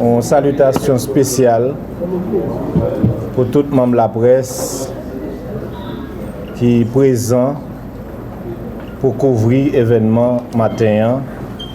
Yon salitasyon spesyal pou tout manm laprès ki prezan pou kouvri evènman maten an.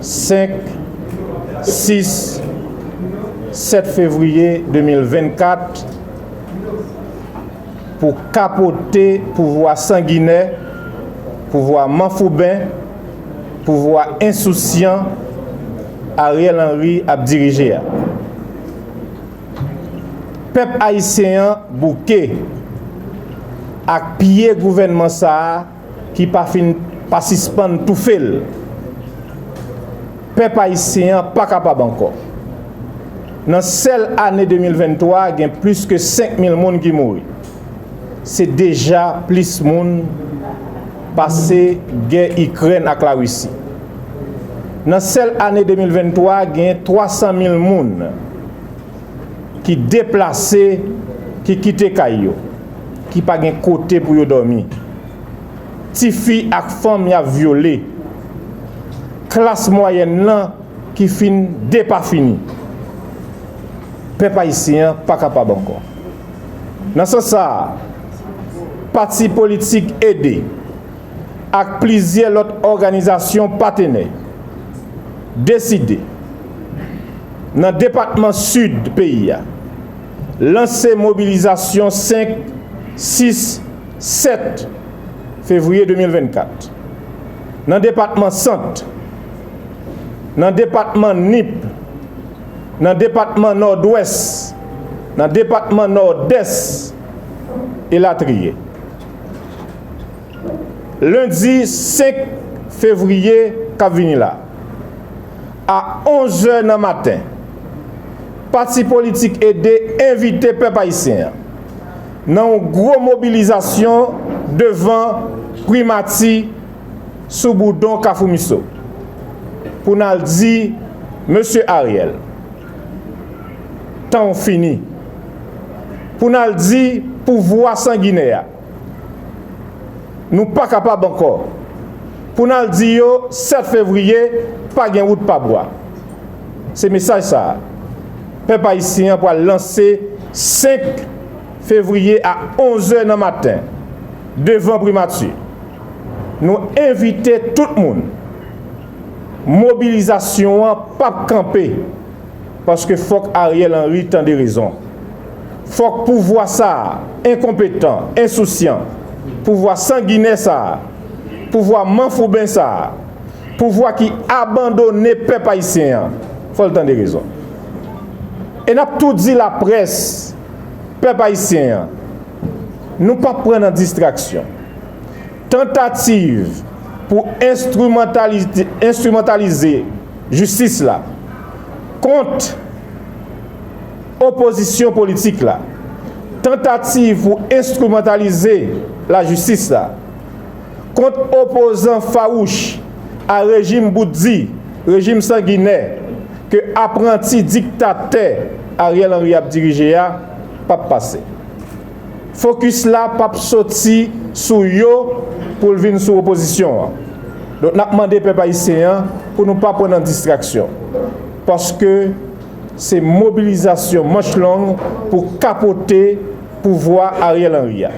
5, 6, 7 fevriye 2024 pou kapote pouvwa sanginè, pouvwa manfouben, pouvwa ensousyan Ariel Henry ap dirije a. Pèp ayisyen an bouke ak pye gouvènman sa a. ki pa fin pa sispann toufe l. Pèp ayisyen an pa kapab ankò. Nan sèl ane 2023 a gen plis ke 5 mil moun ki mouri. Se deja plis moun pase gè Ikrèn ak Larisi. Nan sèl ane 2023 a genyen 300 mil moun. ki deplase, ki kite kay yo, ki pa gen kote pou yo dòmi, ti fi ak fanm y ap vyole, klas mwayèn lan ki fin depafini. Pèp ayisyen an pa kapab ankò. Nan sans sa a, pati politik ede. ak plizyè lòt òganizasyon patenè, deside, nan depatman Sid peyi a, lanse mobilizasyon 5, 6, 7 fevriye 2024, nan depatman Sant, nan depatman Nip, nan depatman Nòdwès, nan depatman Nòdès, elatriye. Lendi 5 fevriye k ap vini la, a 11 zè nan maten, pati politik ede envite pèp ayisyen an nan yon gwo mobilizasyon devan Primati sou boudon Kafou Miso pou n al di Mesye Ariel, Tan w fini. Pou n al di pouvwa sanginè a, Nou pa kapab ankò. Pou n al di yo 7 fevriye pa gen wout pa bwa. Se mesaj sa a, pèp ayisyen an pral lanse 5 fevriye a 11 zè nan maten devan Primati. Nou envite tout moun. Mobilizasyon an pap kanpe paske fòk Ariel Henry tande rezon. Fòk pouvwa sa a enkonpetan, ensousyan, pouvwa sanginè sa a, pouvwa manfouben sa a, pouvwa ki abandone pèp ayisyen an, fò l tande rezon. E n ap tou di laprès, pèp ayisyen an, nou pap pran nan distraksyon. Tantativ pou enstrimantalize jistis la kont opozisyon politik la Tantativ pou enstrimantalize lajistis la kont opozan fawouch a rejim bout di, rejim sanginè ke apranti diktatè Ariel Henry ap dirije a p ap pase. fokis la pap soti sou yo pou l vin sou opozisyon an. Donk n ap mande pèp ayisyen an pou nou pa pran nan distraksyon. Paske se mobilizasyon manch long pou kapote pouvwa Ariel Henry a.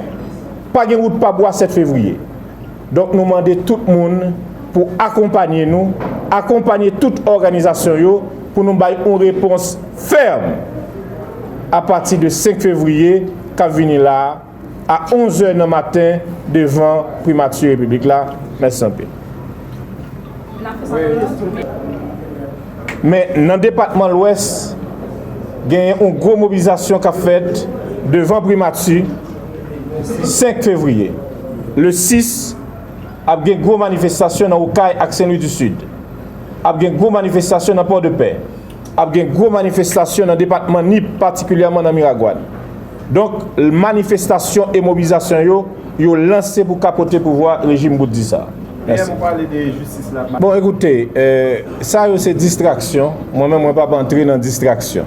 Pa gen wout pa bwa 7 fevriye. Donk nou mande tout moun pou akonpanye nou, akonpanye tout òganizasyon yo pou nou bay yon repons fèm apati de 5 fevriye k ap vini la a 11 zè nan maten devan Primati Repiblik la. Mèsi anpil. Men nan depatman Lwès genyen yon gwo mobilizasyon k ap fèt devan Primati. 5 fevriye, le 6, ap gen gwo manifestasyon nan Okay ak Senlwi di Sid. Ap gen gwo manifestasyon nan Pòdepè. Ap gen gwo manifestasyon nan depatman Nip, patikilyèman nan Miragwàn. Donk, manifestasyon e mobilizasyon yo, yo lanse pou kapote pouvwa rejim bout di sa. Bon, ekoute, sa yo se distraksyon. Mwen menm, mwen pa p antre nan distraksyon.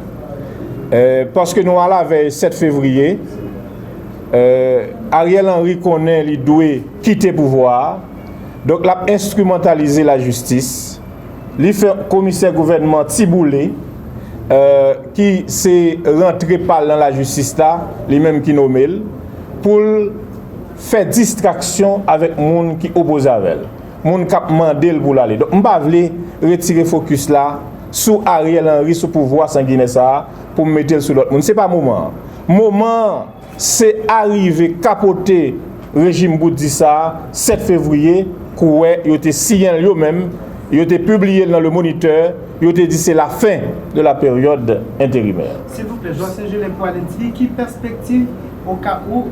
Paske nou alavèy 7 fevriye, Ariel Henry konnen li dwe kite pouvwa a, donk l ap enstrimantalize lajistis. Li fè komisè gouvènman Ti Boule, ki se rantre pa l nan lajistis la, li menm ki nome l, pou l fè distraksyon avèk moun ki opoze avè l. Moun kap mandel poul ale. Donk m pa vle retire fokis la sou Ariel Henry sou pouvwa sanginè sa pou m metel sou lòt moun. Se pa moman an. Moman an se arive kapote rejim bout di sa 7 fevriye kouwè yo te siyenl yo menm, yo te pibliyel nan le moniteur, yo te di se la fin de la période intérimaire. Silvouplè, Jwa Senjelèn pou Alèkti, ki pèspektiv Oka ou,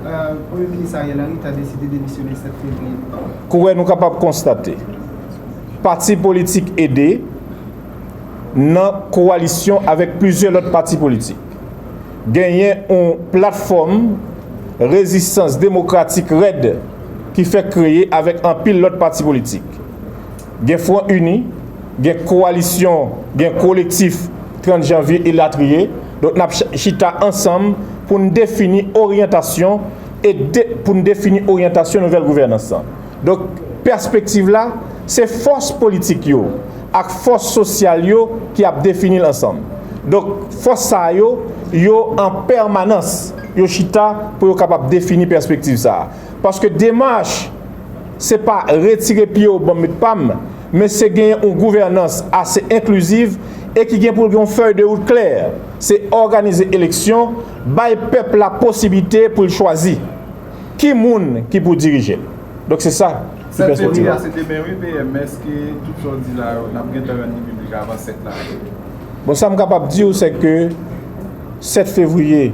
Premye Minis Ariel Henry ta deside demisyone 7 fevriye nou ka. Kouwè nou kapab konstate, pati politik ede nan kowalisyon avèk plizyè lòt pati politik, genyen yon platfòm rezistans demokratik rèd ki fèk kreye avèk anpil lòt pati politik. gen Fwon Ini, gen Kowalisyon, gen Kolektif 30 Janvye elatriye. Donk n ap chita ansanm pou n defini oryantasyon e pou n defini oryantasyon nouvèl gouvènans lan. Donk pèspektiv la se fòs politik yo ak fòs sosyal yo ki ap defini l ansanm. Donk fòs sa yo, yo an pèmanans yo chita pou yo kapab defini pèspektiv sa a. Paske demach se pa retire pye w banm met pa m, men se genyen yon gouvènans ase enkliziv e ki gen pou l gen yon fèy de wout klè, se òganize eleksyon, bay pèp la posiblite pou l chwazi ki moun ki pou dirije l. Donk se sa ki pèspektiv la. 7 fevriye a se demen wi PM, èske tout sa w di la yo n ap gentan rann li piblik avan 7 la? Bon sa m kapab di w se ke 7 fevriye.